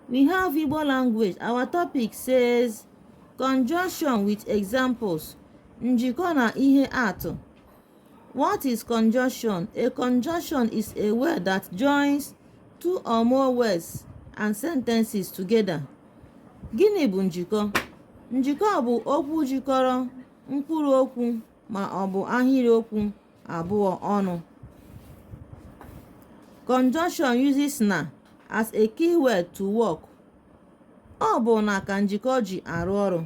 We have Igbo language. Our topic says conjunction with examples. Njikọ na ihe atụ. What is conjunction? A conjunction is a word that joins two or more words and sentences together. Gịnị bụ njikọ? Njikọ bụ okwu jikọrọ mkpụrụ okwu ma ọ bụ ahịrịokwu abụọ ọnụ. Conjunction uses na as a keyword to work. Ọ bụ na ka njikọ ji arụ ọrụ.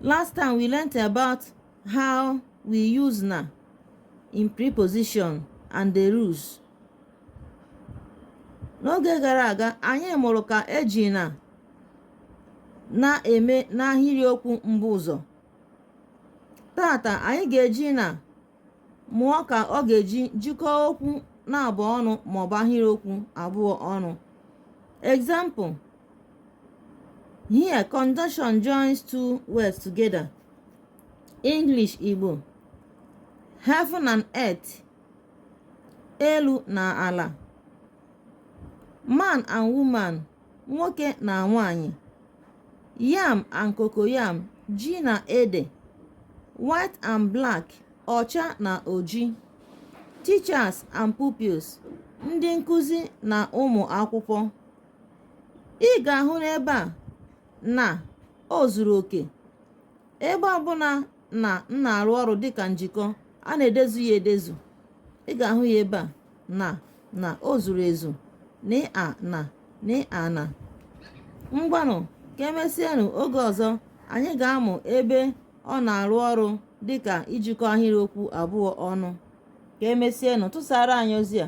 Last time we learnt about how we use na in preposition and the rules. N'oge gara aga, anyị mụrụ ka eji na na-eme n'ahịrịokwu mbuụzọ. taata anyị ga-eji na mụọ ka ọ ga-eji jikọọ okwu naabọ ọnụ maọbụ ahịrịokwu abụọ ọnụ example here conjunction joins two words together english igbo heaven and earth elu na ala man and woman nwoke na nwanyị yam and cocoyam ji na ede white and black ọcha na oji teachers and pupils ndị nkụzi na ụmụ akwụkwọ ị ga-ahụ n'ebe a na o zuru oke ebe ọbụla na na-arụ ọrụ dịka njikọ a na-edezu ya edezu ị ga-ahụ ya ebe a na na o zuru ezu n a na n a na ngwanụ ka emesienụ oge ọzọ anyị ga-amụ ebe ọ na-arụ ọrụ dịka ijikọ ahịrịokwu abụọ ọnụ ka emesienụ tụsaara anyị ozi a